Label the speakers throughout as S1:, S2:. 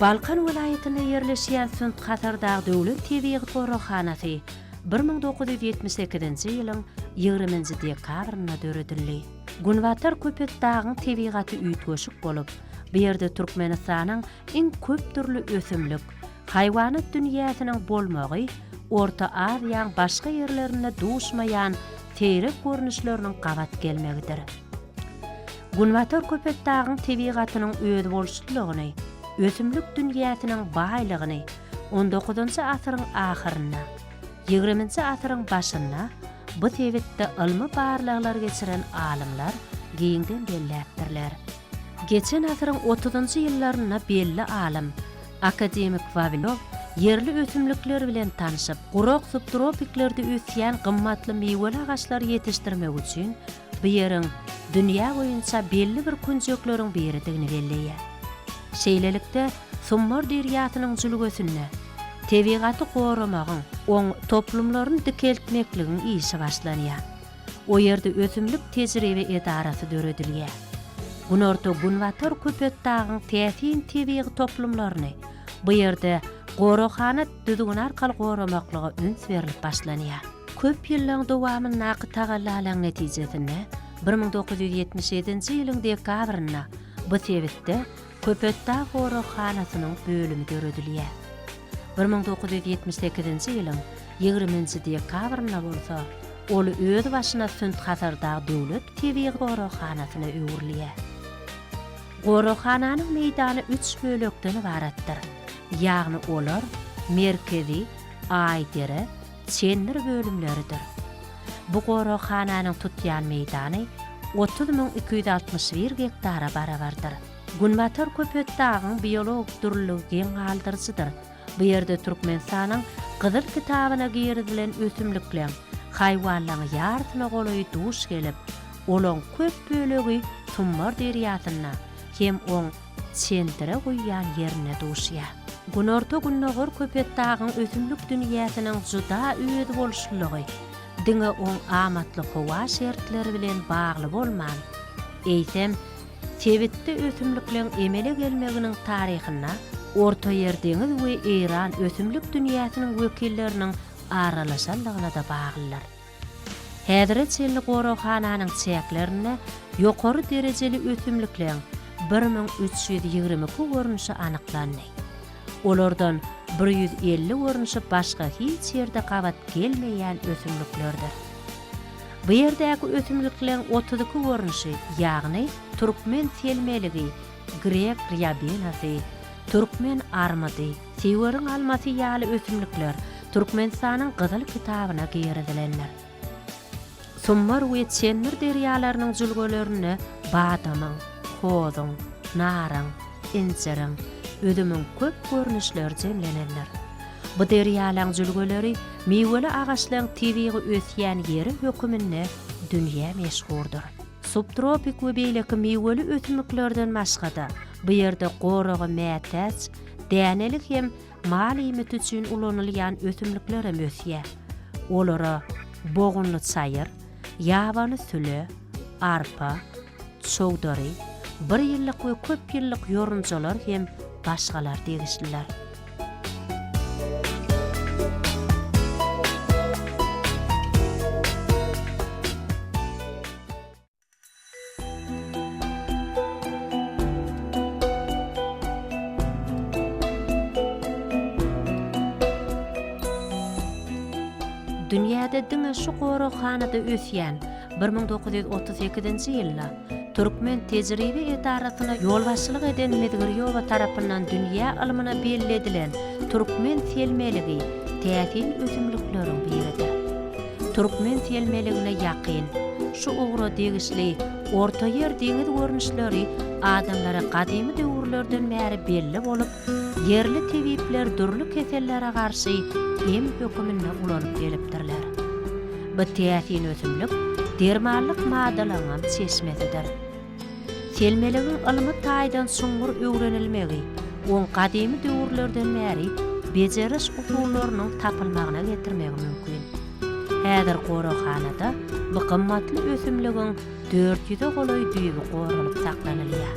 S1: Balkan welaýatynda ýerleşýän Sünt-Hasardag döwlet tebigy goraghanasy bir müň dokuz ýüz ýetmiş sekizinji ýylyň ýigriminji dekabrynda döredildi. Günbatar Köpetdagyň tebigaty üýtgeşik bolup, bu ýerde Türkmenistanyň iň köp dürli ösümlik, Haýwanat dünýäsiniň bolmagy Orta Aziýaň başga ýerlerinde duşmaýan seýrek görnüşleriniň gabat gelmegidir. Günbatar Köpetdagyň tebigatynyň özboluşlylygyny, ösümlik dünýäsiniň baýlygyny on dokuzynjy asyryň ahyrynda, ýigriminji asyryň başynda bu sebitde ylmy barlaglar geçiren alymlar giňden belläpdirler. Geçen asyryň otuzynjy ýyllarynda belli alym, akademik Wawilow ýerli ösümlikler bilen tanşyp, gurak subtropiklerde ösýän gymmatly miweli agaçlary ýetişdirmek üçin bu ýeriň dünýä boýunça belli bir künjekleriň biridigini belleýär. Şeýlelikde, Summar derýasynyň jülgesinde tebigaty goramagyň, oň toplumlaryny dikeltmekligiň işi başlanýar. O ýerde ösümlik tejribe edarasy döredilýär. Günorta-Günbatar Köpetdagyň täsin tebigy toplumlaryny bu ýerde goraghana düzgüni arkaly goramaklyga üns berlip başlanýar. Köp ýyllaryň dowamyndaky tagallalaryň netijesinde bir müň dokuz ýüz ýetmiş ýedinji ýylyň dekabrynda bu sebitde Köpetdag goraghanasynyň bölümi döredilýär. Bir müň dokuz ýüz ýetmiş sekizinji ýylyň ýigriminji dekabrynda bolsa ol özbaşyna Sünt-Hasardag döwlet tebigy goraghanasyna öwrülýär. Goraghananyň meýdany üç bölekden ybaratdyr, ýagny olar, Merkezi, Aýdere, Çendir bölümleridir. Bu goraghananyň tutýan meýdany otuz müň iki ýüz altmyş bir gektara barabardyr. Günbatar Köpetdagyň biologik dürlüligi geň galdyryjydyr. Bu ýerde Türkmenistanyň Gyzyl kitabyna girizilen ösümlikleň, haýwanlaň ýarysyna golaýy duş gelip, olaň köp bölegi Tummar derýasynda hem oň çeldire guýýan ýerinde duşýar. Günorta-gündogar Köpetdagyň ösümlik dünýäsiniň juda özboluşlylygy diňe oň amatly howa şertleri bilen bagly bolman, eýsem, sebitde ösümlikleň emele gelmeginiň taryhynda Ortaýer deňiz we Eýran ösümlik dünýäsiniň wekilleriniň aralaşanlygyna-da baglydyr. Häzire çenli goraghananyň çäklerinde ýokary derejeli ösümlikleň bir müň üç ýüz ýigrimi iki görnüşi anyklandy. Olardan bir ýüz elli görnüşi başga hiç ýerde gabat gelmeýän ösümliklerdir. Bu ýerdäki ösümlikleň otuz iki görnüşi, ýagny türkmen selmeligi, grek rýabenasy, türkmen armydy, Siwerin almasy ýaly ösümlikler Türkmenistanyň Gyzyl kitabyna girizilendir. Summar we Çenmir derýalarynyň jülgelerinde badamyň, hozuň, naryň, injiriň, üzümiň köp görnüşleri jemlenendir. Bu derýalaň jülgeleri miweli agaçlaň tebigy ösýän ýeri höküminde dünýä meşhurdyr. Subtropik we beýleki miweli ösümliklerden başga-da, bu ýerde goraga mätäç, Dänelik hem mal iýmiti üçin ulanylýan ösümlikler hem ösýär. Olara bogunly çaýyr, ýabany süle, arpa, çowdary, bir ýyllyk we köp ýyllyk ýorunjalar hem başgalar degişliler. Dünýäde diňe şu goraghanada ösýän, bir müň dokuz ýüz otuz sekizinji ýylda Türkmen tejribe edarasyna ýolbaşçylyk eden Mizgirýowa tarapyndan dünýä ylmyna belli edilen türkmen selmeligi täsin ösümlikleriň biridir. Türkmen selmeligine ýakyn, şu ugra degişli Ortaýer deňiz görnüşleri adamlara gadymy döwürlerden bäri belli bolup, ýerli tebipler dürli kesellere garşy em höküminde ulanyp gelipdirler. Bu täsin ösümlik dermanlyk maddalaryňam çeşmesidir. Selmerigiň ylmy taýdan çuňňur öwrenilmegi oň gadymy döwürlerden bäri bejeriş usullarynyň tapylmagyna getirmegi mümkin. Häzir goraghanada bu gymmatly ösümligiň dört ýüze golaý düýbi goralyp saklanylýar.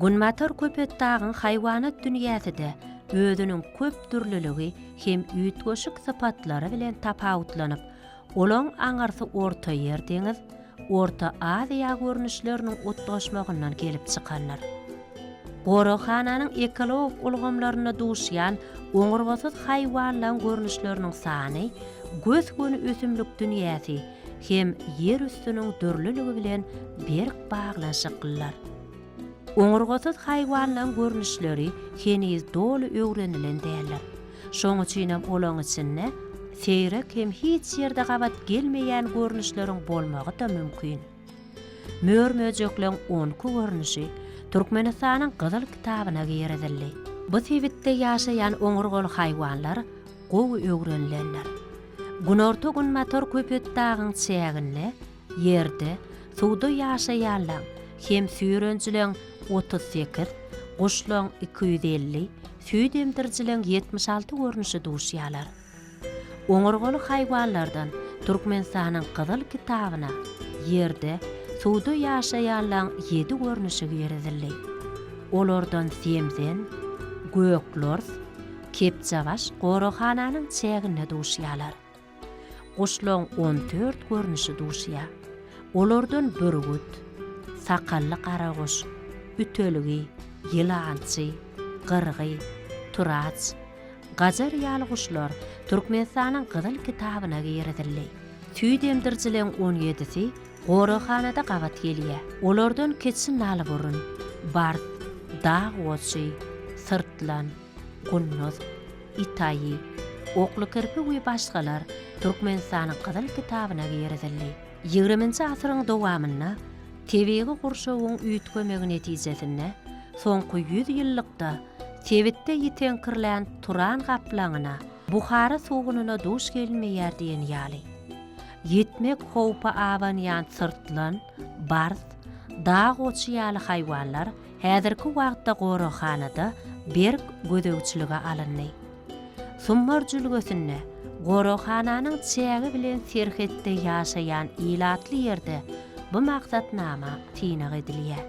S1: Günbatar Köpetdagyň haýwanat dünýäsi-de özüniň köp dürlüligi hem üýtgeşik sypatlary bilen tapawutlanyp, olaň aňyrsy Ortaýer deňiz, Orta Aziýa görnüşleriniň utgaşmagyndan gelip çykandyr. Goraghananyň ekologik ulgamlarynda duşýan oňurgasyz haýwanlaň görnüşleriniň sany gös-göni ösümlik dünýäsi, hem ýer üstüniň dürlüligi bilen berk baglanyşyklylar. Oňurgasyz haýwanlaryň görnüşleri heniz doly öwrenilen däldir. Şoň üçinem olaryň içinde seýrek hem hiç ýerde gabat gelmeýän görnüşleriň bolmagy-da mümkin. Mör-möjekleň on iki görnüşi Türkmenistanyň Gyzyl kitabyna girizildi. Bu sebitde ýaşaýan oňurgaly haýwanlar gowy öwrenilendir. Günorta-günbatar Köpetdagyň çäginde ýerde, suwda ýaşaýanlaň hem süýrenjileň otuz sekiz, guşlaň iki ýüz elli, süýt emdirijileň ýetmiş alty görnüşi duşýarlar. Oňurgaly haýwanlardan Türkmenistanyň Gyzyl kitabyna ýerde, suwda ýaşaýanlaň ýedi görnüşi girizildi. Olardan zemzen, göklors, Kepjebaş goraghananyň çäginde duşýarlar. Guşlaryň on dört görnüşi duşýar. Olardan bürgüt, sakally garaguş, ütelgi, ýylançy, gyrgy, turaç, gajar ýaly guşlar Türkmenistanyň Gyzyl kitabyna girizildi. Süýt emdirijileriň on ýedisi goraghanada gabat gelýär. Olardan keçi nalburun, bars, dag goçy, syrtlan, Gulnaz, Itaýy, Oklukirpi we başgalar Türkmenistanyň Gyzyl kitabyna girizildi. Ýigriminji asyryň dowamynda tebigy gurşawyň üýtgemegi netijesinde soňky ýüz ýyllykda sebitde ýiteňkirlän turan gaplaňyna, Buhara sugunyna duş gelinmeýär diýen ýaly. Ýitmek howpy abanýan syrtlan, bars, dag goçy ýaly haýwanlar Häzirki wagtda goraghanada berk gözegçilige alyndy. Summar jülgesinde goraghananyň çägi bilen serhetde ýaşaýan ilatly ýerde bu maksatnama synag edilýär.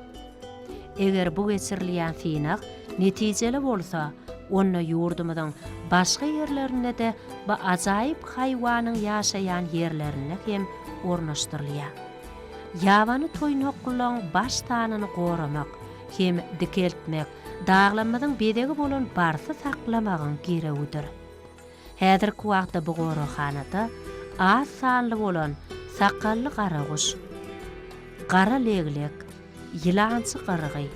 S1: Eger bu geçirilýän synag netijeli bolsa, onda ýurdumyzyň başga ýerlerinde-de bu ajaýyp haýwanyň ýaşaýan ýerlerinde hem ornaşdyrylýar. Ýabany toýnaklaryň baş sanyny goramak hem dikeltmek daglarymyzyň bezegi bolan barsy saklamagyň girewidir. Häzirki wagtda bu goraghanada az sanly bolan sakgally garaguş, gara leglek, ýylançy gyrgy,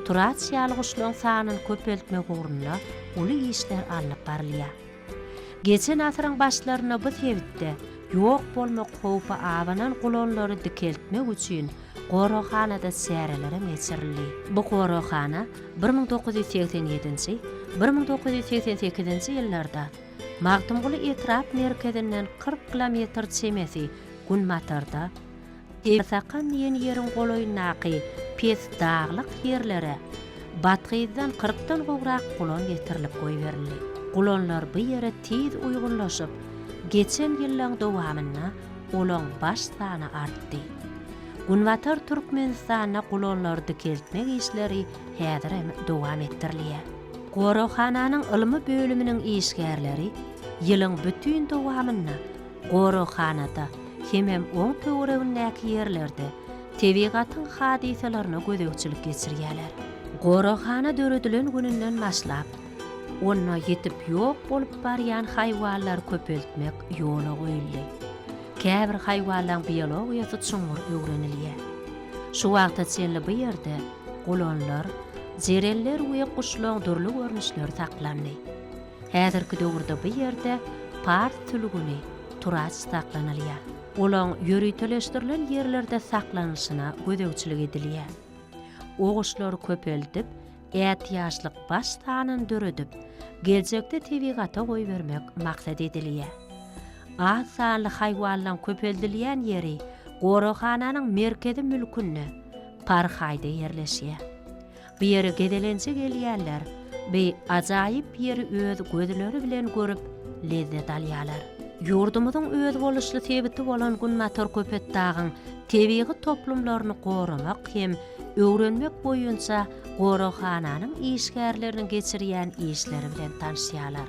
S1: turaç ýaly guşlaryň sanyny köpeltmek ugrunda uly işler alnyp barylýar. Geçen asyryň başlarynda bu sebitde ýok bolmak howpy abanan gulanlary dikeltmek üçin goraghanada çärelerem geçirildi. Bu goraghana bir müň dokuz ýüz segsen ýedinji, bir müň dokuz ýüz segsen sekizinji ýyllarda Magtymguly etrap merkezinden kyrk kilometr çemesi günbatarda, Esakan diýen ýeriň golaýyndaky pes daglyk ýerlere Bathyzdan kyrkdan gowrak gulan getirilip goýberildi. Gulanlar bu ýere tiz uýgunlaşyp, geçen ýyllaň dowamynda olaň baş sany artdy. Günbatar Türkmenistanda gulanlary dikeltmek işleri häzir hem dowam etdirilýär. Goraghananyň ylmy bölüminiň işgärleri ýylyň bütin dowamynda Goraghanada hemem oň töweregindäki ýerlerde tebigatyň hadysalaryna gözegçilik geçirýärler. Goraghana döredilen gününden başlap, onda ýitip ýok bolup barýan haýwanlary köpeltmek ýola goýuldy. Käbir haýwanlaryň biologiýasy çuňňur öwrenilýär. Şu wagta çenli bu ýerde gulanlar, jereller we guşlaryň dürli görnüşleri saklandy. Häzirki döwürde bu ýerde pars sülgüni, turaç, saklanylýar. Olaň ýöriteleşdirilen ýerlerde saklanylyşyna gözegçilik edilýär. O guşlary köpeldip, ätiýaçlyk baş sanyny döredip, geljekde tebigata goýbermek maksat edilýär. Az sanly haýwanlaryň köpeldilýän ýeri goraghananyň merkezi mülkünde, parhaýda ýerleşýär. Bu ýere gezelenje gelýänler bu ajaýyp ýeri öz gözleri bilen görüp, lezzet alýarlar. Ýurdumyzyň özboluşly sebiti bolan Günbatar Köpetdagyň tebigy toplumlaryny goramak hem öwrenmek boýunça goraghananyň işgärleriniň geçirýän işleri bilen tanşýarlar.